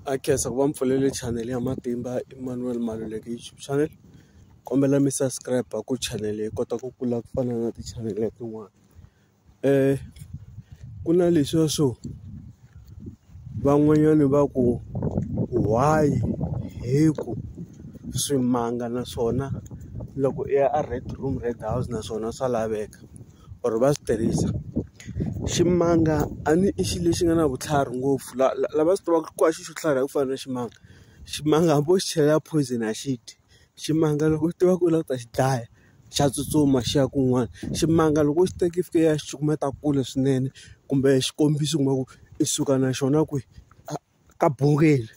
Na khensa ku va mi pfulele chanele ya Matimba Emmanuel Maluleke YouTube channel. Kombela mi subscribe-a ku chanele yi kota ku kula ku fana na ti-channel tin'wana. Ku na leswiya swo van'wanyani va ku why hi ku swimanga naswona loko i ya a red room red house naswona swa laveka. or va swi tirhisa ximanga a ni i xilo lexi nga na vutlhari ngopfu la la lava swi tivaka ku a xi xo tlhari hi ku fana na ximanga ximanga hambi wo xi chela poison a xi dyi ximanga loko u tiva ku u lava ku ta xi dlaya xa tsutsuma xi ya kun'wana ximanga loko u xi teki fika ya xi cukumeta kule swinene kumbe xikombiso u kuma ku i suka na xona kwihi . ka bungeni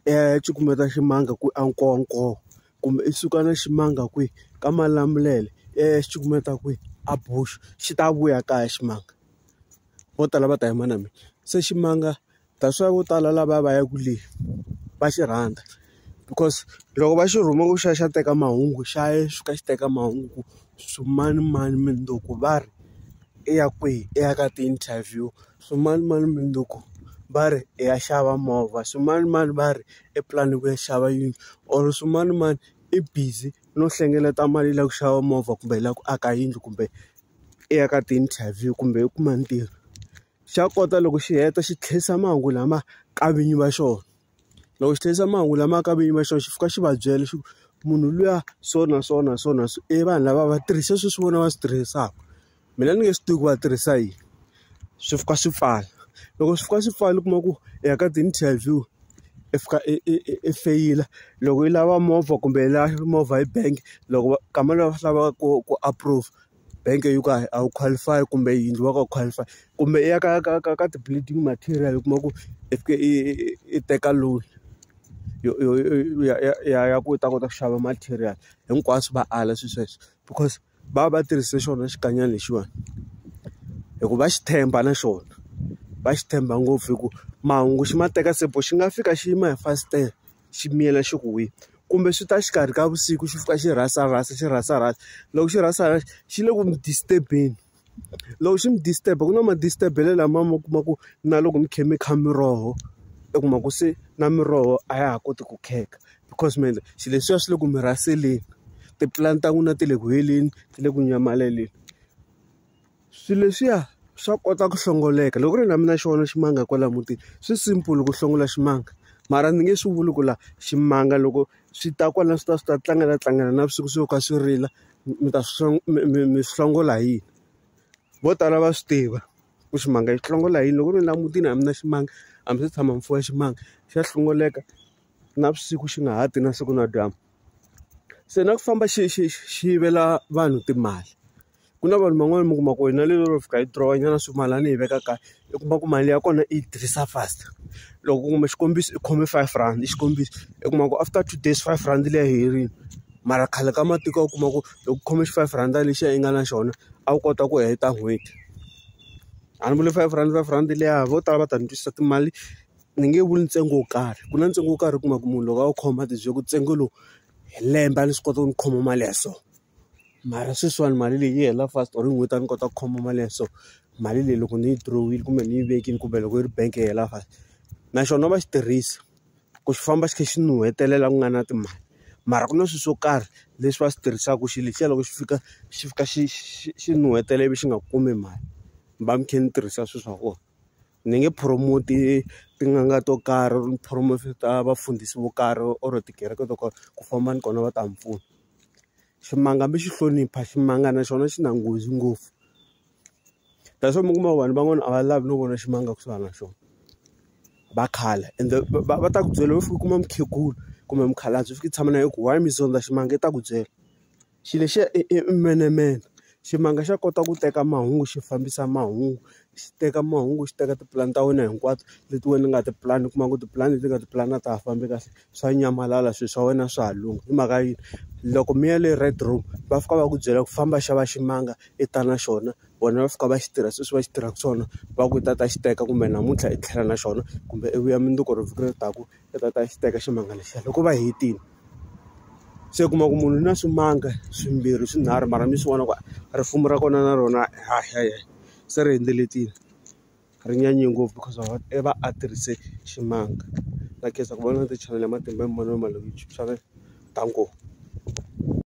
i ya cukumeta ximanga ku a nkowankowa kumbe i suka na ximanga kwihi ka malamulele i ya xi cukumeta kwihi a bush xi ta vuya kaya ximanga vo tala va ta yima na mina se ximanga that's why vo tala lava va yaka le va xi rhandza. because loko va xi rhuma ku xi ya xi ya teka mahungu xa ya xi fika xi teka mahungu swi manimani mundzuku va ri i ya kwihi i ya ka ti-interview swimanimani mundzuku va ri i ya xava movha swimanimani va ri i plan-i ku ya xava yindlu or swimanimani i busy no hlengeleta mali ya ku xava movha kumbe yi lava ku aka yindlu kumbe i ya ka ti-interview kumbe u kuma ntirho xa kota loko xi heta xi tlherisa mahungu lama ka vinyi va xona. Loko xi tirhisa mahungu lama aka vinyi va xona xi fika xi va byela xi ku munhu luya so na so na so na so i vanhu lava va tirhisa swilo leswi vona va swi tirhisaka mina ni nge swi tivi ku va tirhisa yini swi fika swi pfala loko swi fika swi pfala u kuma ku i ya ka ti-interview i fika i i i i feyila loko yi lava movha kumbe yi lava movha hi bank loko va kama lowu va swi lavaka ku ku approve. bank yo ka a wu qualify kumbe yindlu wa ka u qualify kumbe i ya ka ka ka ka ti-building material u kuma ku i fike i i teka loan yo yo ya ya ya ya ku u ta kota ku xava material hinkwaswo va ala swilo sweswo because va va va tirhise xona xikanyana lexiwani hi ku va xi tshemba na xona va xi tshemba ngopfu hi ku mahungu xi ma teka se bo xi nga fika xi yima hi fasitere. xi miyela xi ku wile. Kumbe swi ta exikarhi ka vusiku xi fika xi rhasa rhasa xi rhasa rhasa, loko xi rhasa rhasa xi le ku mi disturb-eni. Loko xi mi disturb-a ku na ma-disturb-elo lama mi kuma ku na loko mi kha mi kha miroho u kuma ku se na miroho a ya ha koti ku kheka. Because mi endla swilo leswiya swi le ku mi rhaseleni, ti-plan-i ta n'wina ti le ku heleni, ti le ku nyamaleleni. Swilo leswiya swa kota ku hlongoleka loko ku ri na mina xona ximanga kwala mutini swi simple ku hlongola ximanga mara ndzi nge swi vuli ku la ximanga loko swi ta kwala swi ta swi ta tlangela tlangela navusiku swi ka swi rila mi ta swi mi mi mi swi hlongola hi yini vo tala va swi tiva ku ximanga xi hlongola hi yini loko ku ri la mutini a mi na ximanga a mi se tshama mi fuwa ximanga xa hlongoleka navusiku xi nga ha ti na siku na dyambu. Se na ku famba xi xi xi yivela vanhu timali. Ku na vanhu van'wani mi kuma ku ri na le ro fika yi dirowa nyana swimilana ni yi veka kaya, u kuma ku mali ya kona i yi tirhisa fast. Loko ku kuma xikombiso i khome five rand i xikombiso, u kuma ku after two days five rand liya yi herile. Mara khale ka matiko a wu kuma ku loko u khome xi-five rhanda lexiya i nga na xona, a wu kota ku heta n'hweti. A ni vuli five rand five rand liya vo tala va ta ni twisisa timali. Ni nge vuli ntsengo wo karhi ku na ntsengo wo karhi u kuma ku munhu loko a wu khoma a tibyela ku ntsengo lowu hi lembe a ni swi kota ku ni khoma mali ya so mara sweswiwani mali leyi yi hela fast or hi n'hweti a ni kota ku khoma mali ya so mali leyi loko ni yi dirohile kumbe ni yi vekile kumbe loko yi ri bank yi hela fast na xona va xi tirhisa ku xi famba xi kha xi nuhetelela ku nga na timali mara ku na swilo swo karhi leswi va swi tirhisaka xilo lexiya loko xi fika xi fika xi xi xi nuhetela ivi xi nga kumi mali ni va ni kha ni tirhisa swilo swa kona. Ni nge promote tin'anga to karhi or ni promote ta vafundhisi vo karhi or tikereke to karhi ku famba ni kona va ta mi pfuna. Ximanga hambi xi hlonipha ximanga na xona xi na nghozi ngopfu. That's why mi kuma ku vanhu van'wana a va lavi no vona ximanga kusuhana na xona, va khala. Ende va va ta ku byela u fika u kuma mukhegula kumbe mukhalabye u fika u tshama na yena u ku why mi zondza ximanga? I ta ku byela. Xilo lexiya i i menemene. Ximanga xa kota ku teka mahungu xi fambisa mahungu, xi teka mahungu xi teka tipulani ta wena hinkwato leti wena u nga tipulani. U kuma ku tipulani leti u nga tipulani a ta ha fambi kahle, swa nyamalala swilo swa wena swa ha lungha. Hi mhaka yini? Loko mi ya le Red room va fika va ku byela ku famba xava ximanga i ta na xona, vona va fika va xi tirha sweswi va xi tirhaka swona. Va ku i ta a ta xi teka kumbe namuntlha i tlhela na xona, kumbe i vuya mundzuku or vhiki leri taka. ta ta ta xi teka ximanga lexiya loko va hetile se u kuma ku munhu na swimanga swimbirhi swinharhu mara mi swi vona ku risimu ra kona na rona ha ha se ri hindzelekile ri nyanye ngopfu because of i va a tirhise ximanga na khensa ku vona ti-channel ya matimba hi mavonelo ma loyi xana ta ngopfu.